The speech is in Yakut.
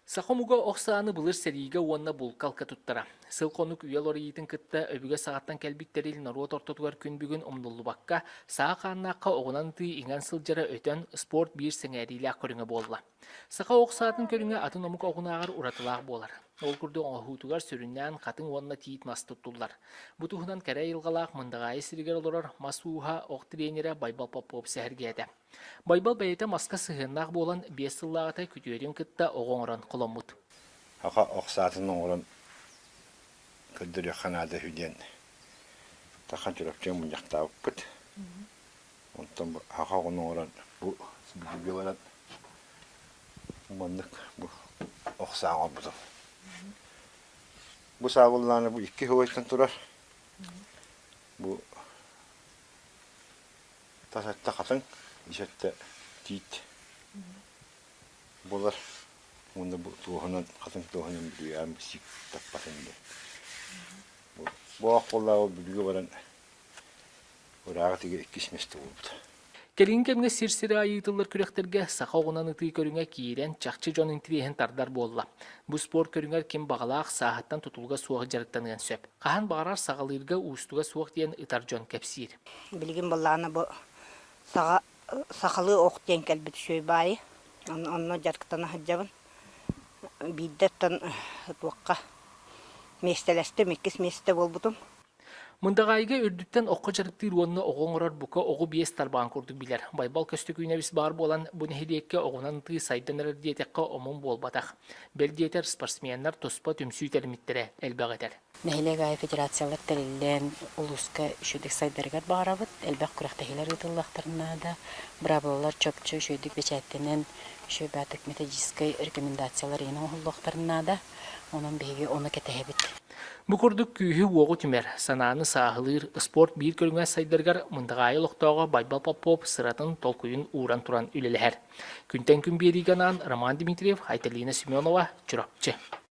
Саха омуга ох сааны былыр сэриигэ уонна булкалка туттара. Сыл-хонук үйэ лориитын кытта өбүгэ саатан кэлбит тэрил норуот ортотугар күн бүгүн умнуллубакка, саа хааннаахха оҕунан ытыы иҥэн сылдьара өтөн, спорт биир сэҥээриилээх көрүҥэ буолла. Саха ох саатын көрүҥэ атын омук оҕунааҕар уратылаах буолар. Ол курдук оҥоһуутугар сүрүннээн хатыҥ уонна тиит мас туттуллар. Бу туһунан кэрэ айылҕалаах Мындаҕаайы сиригэр олорор мас ууһа, ох тренерэ Байбал Попов сэһэргээтэ. Байбал бэйэтэ маска сыһыаннаах буолан, биэс сыллааҕыта күтүөрүн кытта оҕо оҥорон холоммут. Аха, ох саатын оҥорон көрдөрүөххэ наада үһү диэн Тархан Чурапчыга мунньахтаабыппыт. Онтон бу аха оҕону оҥорон бу бииргэ баран маннык бу ох саа оҥорбутум. Бу саабыллаана бу икки убайыттан турар. Бу тас атта хатаҥ, ис атта тиит буолар уонна бу туоһунан хатыҥ туоһунан бүлүү аам кисик таппатын диэн. Боох буоллааҕы бүлүүгэ баран ырааҕы тигэ иккис месте буолбута. Кэлин кэмҥэ сир-сирэ айыытыллар күрэхтэргэ саха оҕунан ытыы көрүҥэ киирэн, чахчы дьон интириэһин тардар буолла. Бу спорт көрүҥэр ким баҕалаах сааһыттан тутулуга суох дьарыктаныан сөп. Хаһан баҕарар саҕалыырга уустуга суох диэн ытар дьон кэпсиир. Билигин былаана бу саҕа сахалыы ох диэн кэлбит үчүгэй баайы онно дьарыктана сылдьабын. Биирдэ оттон туохха миэстэлэстим, иккис миэстэ буолбутум. Мындаҕаайыга үрдүттэн окко дьарыктыыр уонна оҕо оҥорор бука оҕу биэс тарбаҕын курдук билэр. Байбал Көстөкүүнэбис баар буолан, бу нэһилиэккэ оҕунан ытыы сайдан эрэр диэтэххэ омун буолбатах. Бэл диэтэр, спортсменнар туспа түмсүү тэримиттэрэ элбэх этэр. Нэһилиэк аайы федерациялар тэриллэн, улууска үчүгэйдик сайдарыгар баҕарабыт. Элбэх күрэхтэһиилэр ыытыллыахтарына да, быраабылалар чопчу үчүгэйдик бэчээттэнэн, үчүгэй баатык методическай рекомендациялар иһин оҥоһуллуохтарына да, онон биһиги ону кэтэһэбит. Бу курдук күүһү-уоҕу түмэр, санааны сааһылыыр спорт биир көрүҥэ сайдарыгар мындаҕаайы олохтооҕо Байбал Попов сыратын, толкуйун ууран туран үлэлэһэр. Күнтэн күн биэриигэ анаан Роман Дмитриев, Айталина Семенова, Чурапчы.